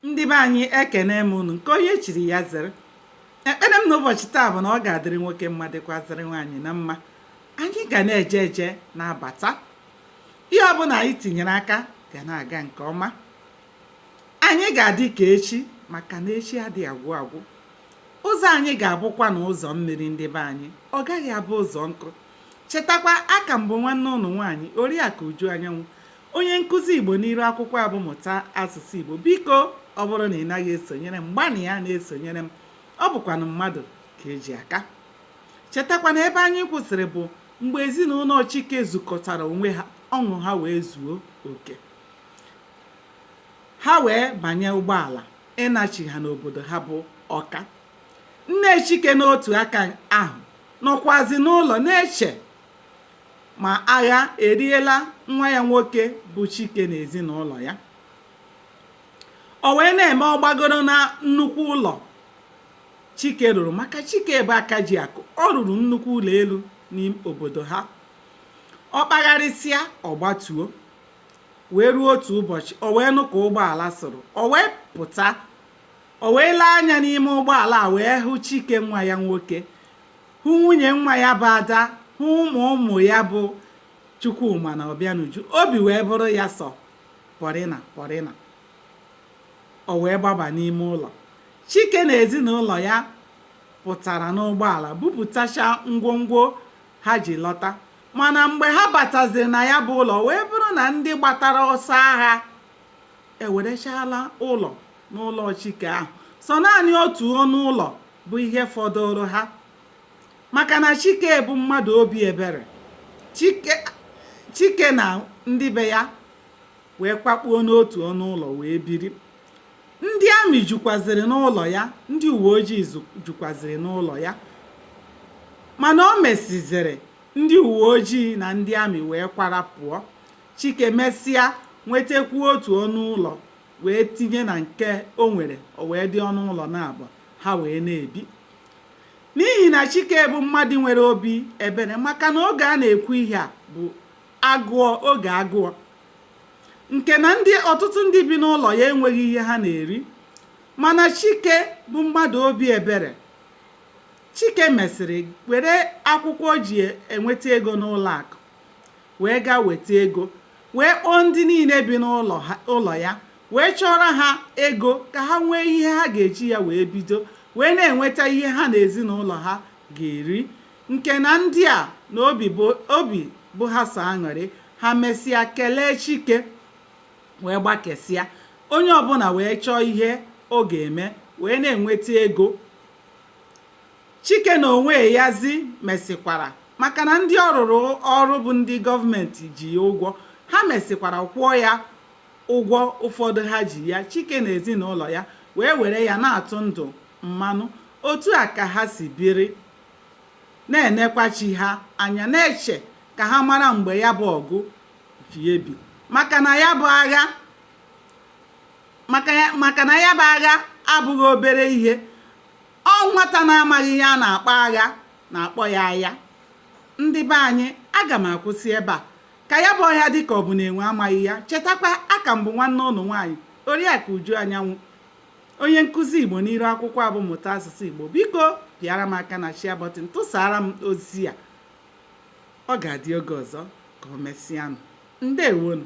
ndị be anyị ekene m unu nke onye chiri ya zere ekpere m n'ụbọchị taa bụ na ọ ga-adịrị nwoke mma dịkwazịrị nwaanyị na mma anyị ga na-eje eje na-abata ihe ọbụla anyị tinyere aka ga na-aga nke ọma anyị ga-adị ka echi maka na echi adịghị agwụ agwụ ụzọ anyị ga-abụkwa na ụzọ mmiri ndị be anyị ọ gaghị abụ ụzọ nkụ Chetakwa, a ka m bụ nwanne unu nwaanyị, Oriakụ Uju Anyanwụ, onye nkụzi Igbo n'iru akwụkwọ a bụ Mụta Asụsụ Igbo. Biko, ọ bụrụ na ị naghị esonyere m, gbanịa na-esonyere m. Ọ bụkwanụ mmadụ ka e ji aka. Chetakwa na ebe anyị kwụsịrị bụ mgbe ezinụlọ Chike zukọtara onwe ha, ọṅụ ha wee zuo oke. Ha wee banye ụgbọala ịnachigha n'obodo ha bụ Ọka. Nne Chike n'otu aka ahụ nọkwazi n'ụlọ na-eche ma agha eriela nwa ya nwoke bụ Chike na ezinụlọ ya. O wee na-eme ọ gbagoro na nnukwu ụlọ Chike rụrụ maka Chike bụ aka ji akụ ọ rụrụ nnukwu ụlọ elu n'obodo ha ọ kpagharịsịa ọ gbatuo wee ruo otu ụbọchị o wee nụ ka ụgbọala sụrụ o wee pụta o wee lee anya n'ime ụgbọala a wee hụ chike nwa ya nwoke hụ nwunye nwa ya bụ ada hụ ụmụ ụmụ ya bụ chukwuma na ọbịanuju obi wee bụrụ ya sọ pọrịna pọrịna o wee gbaba n'ime ụlọ chike na ezinụlọ ya pụtara n'ụgbọala bupụtacha ngwongwo ha ji lọta mana mgbe ha bataziri na ya bụ ụlọ wee bụrụ na ndị gbatara ọsọ agha ewerechala ụlọ n'ụlọ chike ahụ sọ naanị otu ọnụ ụlọ bụ ihe fọdụrụ ha maka na chike bụ mmadụ obi ebere chike na ndị be ya wee kwakpuo n'otu ọnụ ụlọ wee biri ndị amị jukwaziri n'ụlọ ya ndị uwe ojii jukwaziri n'ụlọ ya mana o mesiziri ndị uwe ojii na ndị amị wee kwara pụọ Chike mesịa nwetekwuo otu ọnụ ụlọ wee tinye na nke o nwere, o wee dị ọnụ ụlọ naabọ ha wee na-ebi. N'ihi na Chike bụ mmadụ nwere obi ebere maka na oge a na-ekwu ihe a bụ agụọ oge agụọ nke na ndị ọtụtụ ndị bi n'ụlọ ya enweghị ihe ha na-eri mana Chike bụ mmadụ obi ebere Chike mesịrị were akwụkwọ o ji enweta ego n'ụlọ akụ wee gaa weta ego wee kpọọ ndị niile bi n'ụlọ ya wee chọọrọ ha ego ka ha nwee ihe ha ga-eji ya wee bido wee na-enweta ihe ha na ezinụlọ ha ga-eri nke na ndị a na obi bụ ha sọ aṅụrị ha mesịa kelee Chike wee gbakesịa onye ọbụla wee chọọ ihe ọ ga-eme wee na-enweta ego Chike na onwe yazi mesịkwara maka na ndị ọ rụrụ ọrụ bụ ndị gọọmenti ji ya ụgwọ ha mesịkwara kwụọ ya ụgwọ ụfọdụ ha ji ya Chike na ezinụlọ ya wee were ya na-atụ ndụ mmanụ otu a ka ha si biri na-enekwa chi ha anya na-eche ka ha mara mgbe ya bụ ọgụ ji ebi maka na ya bụ agha abụghị obere ihe ọ nwata na-amaghị ihe a na-akpọ agha na-akpọ ya aya ndị be anyị aga m akwụsị ebe a ka ya bụ ọhịa dịka ọ bụ na enwe amaghị ya chetakwa aka m bụ nwanne ụnụ nwaanyị oriakụ uju anyanwụ onye nkụzi igbo n'iru akwụkwọ a bụ mụta asụsụ igbo biko pịara m aka na share button tụsara m ozi a ọ ga-adị oge ọzọ ka o mesịanụ ndewonu